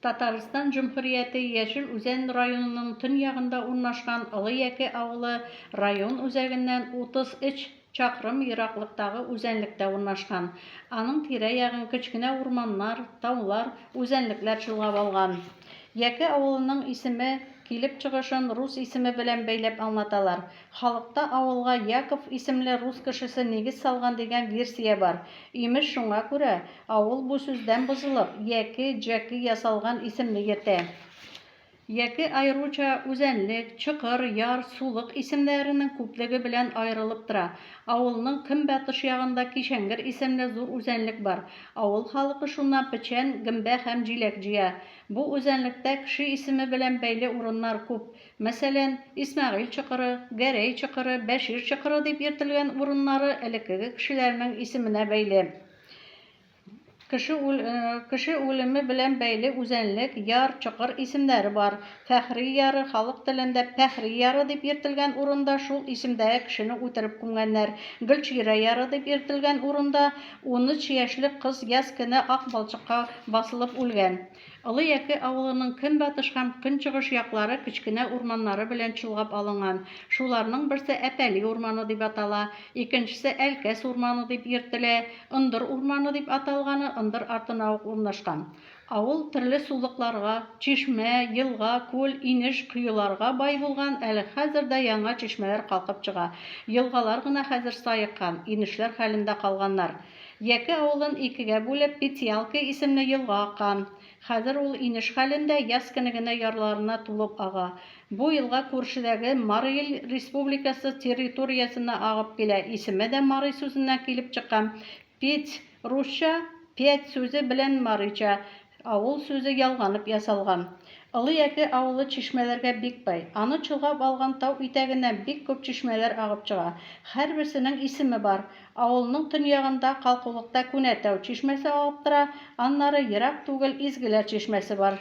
Татарстан Җөмһүрияте Яшел Үзән районының төньягында урнашкан Олы Яке авылы район үзәгеннән 33 чакрым ераклыктагы үзәнлектә урнашкан. Аның тирә-ягын кечкенә урманнар, таулар, үзәнлекләр чолгап алган. Яке авылының исеме килеп чыгышын рус исеме белән бәйләп аңлаталар. Халыкта авылга Яков исемле рус кешесе нигез салган дигән версия бар. Имеш, шуңа күрә авыл бу сүздән бозылып, Яки, Җәки ясалган исемне йөртә. Яки аеруча Үзәнлек, Чокыр, Яр, Сулык исемнәренең күплеге белән аерылып тора. Авылның көнбатыш ягында Кишәңгер исемле зур үзәнлек бар. Авыл халыкы шуннан печән, гөмбә һәм җиләк җыя. Бу үзәнлектә кеше исеме белән бәйле урыннар күп. Мәсәлән, Исмәгыйль чокыры, Гәрәй чокыры, Бәшир чокыры дип йөртелгән урыннары элеккеге кешеләрнең исеменә бәйле. Кеше үлеме белән бәйле үзәнлек, яр, чокыр исемнәре бар. Фәхри яры, халык телендә Пәхри яры дип йөртелгән урында шул исемдәге кешене үтереп күмгәннәр. Гөлчирә яры дип йөртелгән урында унөч яшьлек кыз яз көне ак балчыкка басылып үлгән. Олы Яке авылының көнбатыш һәм көнчыгыш яклары кечкенә урманнары белән чолгап алынган. Шуларның берсе Әпәли урманы дип атала, икенчесе Әлкәс урманы дип йөртелә. Ындыр урманы дип аталганы ындыр артына ук урнашкан. Авыл төрле сулыкларга, чишмә, елга, күл, инеш, коеларга бай булган, әле хәзер дә яңа чишмәләр калкып чыга. Елгалар гына хәзер саеккан, инешләр хәлендә калганнар. Яки авылын икегә бүлеп, Петялка исемле елга ага. Хәзер ул инеш хәлендә, яз көне генә ярларына тулып ага. Бу елга күршедәге Марый Ил Республикасы территориясеннән агып килә. Исеме дә Марый сүзеннән килеп чыккан. Петь, русча, пять сүзе белән марыйча, Авыл сүзе ялганып ясалган. Олы Яке авылы чишмәләргә бик бай. Аны чолгап алган тау итәгеннән бик күп чишмәләр агып чыга. Һәрберсенең исеме бар. Авылның төньягында, калкулыкта Күнәтау чишмәсе агып тора, аннары, ерак түгел, Изгеләр чишмәсе бар.